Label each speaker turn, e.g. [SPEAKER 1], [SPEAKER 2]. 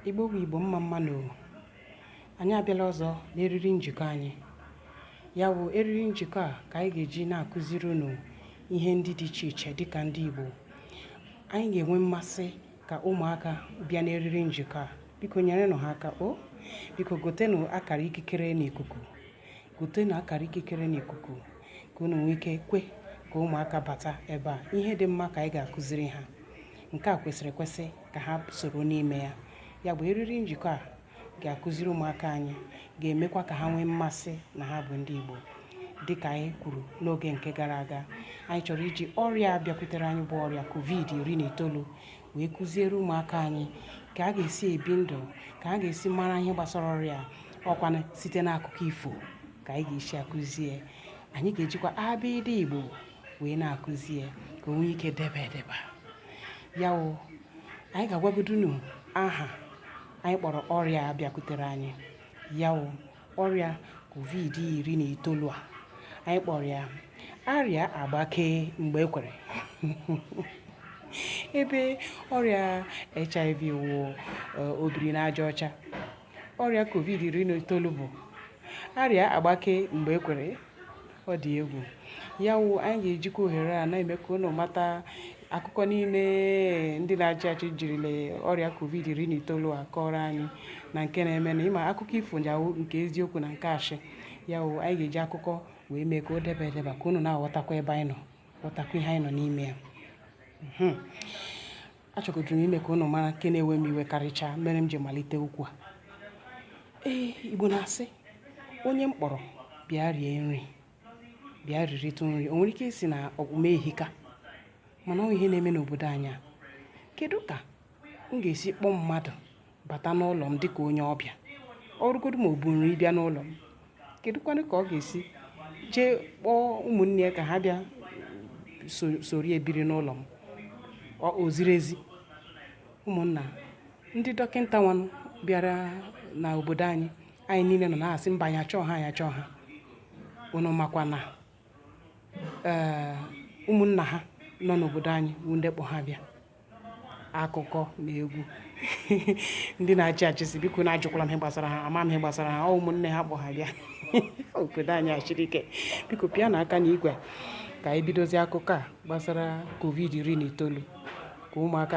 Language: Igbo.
[SPEAKER 1] Igbo bụ Igbo mma mma nụ o anyị abịala ọzọ n'eriri njikọ anyị ya bụ eriri njikọ a ka anyị ga-eji na-akụziri unu ihe ndị dị iche iche dịka ndị Igbo anyị ga-enwe mmasị ka ụmụaka bịa n'eriri njikọ a biko nyerenụ ha aka o biko gotenụ akara ikikere n'ikuku gotenụ akara ikikere n'ikuku ka unu nwee ike kwe ka ụmụaka bata ebe a ihe dị mma ka anyị ga-akụziri ha Nke a kwesịrị ekwesị ka ha soro n'ime ya. Ya bụ, eriri njikọ a ga-akụziri ụmụaka anyị ga-emekwa ka ha nwee mmasị na ha bụ ndị Igbo. Dị ka anyị kwuru n'oge nke gara aga, anyị chọrọ iji ọrịa a bịakwutere anyị bụ ọrịa covid iri na itoolu wee kụziere ụmụaka anyị ka a ga-esi ebi ndụ, ka a ga-esi mara ihe gbasara ọrịa ọ kwanụ site n'akụkọ ifo ka anyị ga-esi akụzi ya. Anyị ga-ejikwa abịdịị Igbo wee na-akụzi ya ka o nwee ike debe edeba ya wụ anyị ga-agwagodu unu aha anyị kpọrọ ọrịa a bịakwutere anyị ya wụ ọrịa covid iri na itoolu a anyị kpọrọ ya arịa agbake mgbe e kwere ebe ọrịa hiv wụ obiri n'aja ọcha ọrịa covid iri na itoolu bụ arịa agbake mgbe e kwere ọ dị egwu ya wụ anyị ga-ejikwa ohere a na-eme ka unu mata akụkọ niile ndị na-achị achị jirila ọrịa covid iri na itoolu a kọrọ anyị na nke na-eme na ịma akụkọ ifo ya wụ nke eziokwu na nke ashị ya wụ anyị ga-eji akụkọ wee mee ka o debe edeba ka unu na-aghọtakwa ebe anyị nọ ghọtakwa ihe anyị nọ n'ime ya Achọgoduru m ime ka ụnụ mara nke na-ewe m iwe karịchaa mere m ji malite okwu a. Ee, Igbo na-asị, onye m kpọrọ bịa rie nri, bịa riritụ nri. O nwere ike ịsị na ọkpụ m ehika, mana ọ ihe na-eme n'obodo anyị a. Kedu ka m ga-esi kpọọ mmadụ bata n'ụlọ m dịka onye ọbịa ọ rụgodu ma o bu nri bịa n'ụlọ m kedụkwanụ ka ọ ga-esi jee kpọọ ụmụnne ya ka ha bịa so- soro ya biri n'ụlọ m ọ o ziri ezi ụmụnna ndị dọkịnta nwanụ bịara na obodo anyị anyị niile nọ na-asị mba anyị achọọ ha anyị achọọ ha unu makwa na ee ụmụnna ha nọ n'obodo anyị bụ ndị kpọ ha bịa akụkọ na egwu ndị na-achị achị sị bikonụ ajụkwala m ihe gbasara ha ama m ihe gbasara ha ọ ụmụnne ha kpọ ha bịa obodo anyị a shiri ike biko pịanụ aka na igwe ka anyị bidozi akụkọ a gbasara covid iri na itoolu ka ụmụaka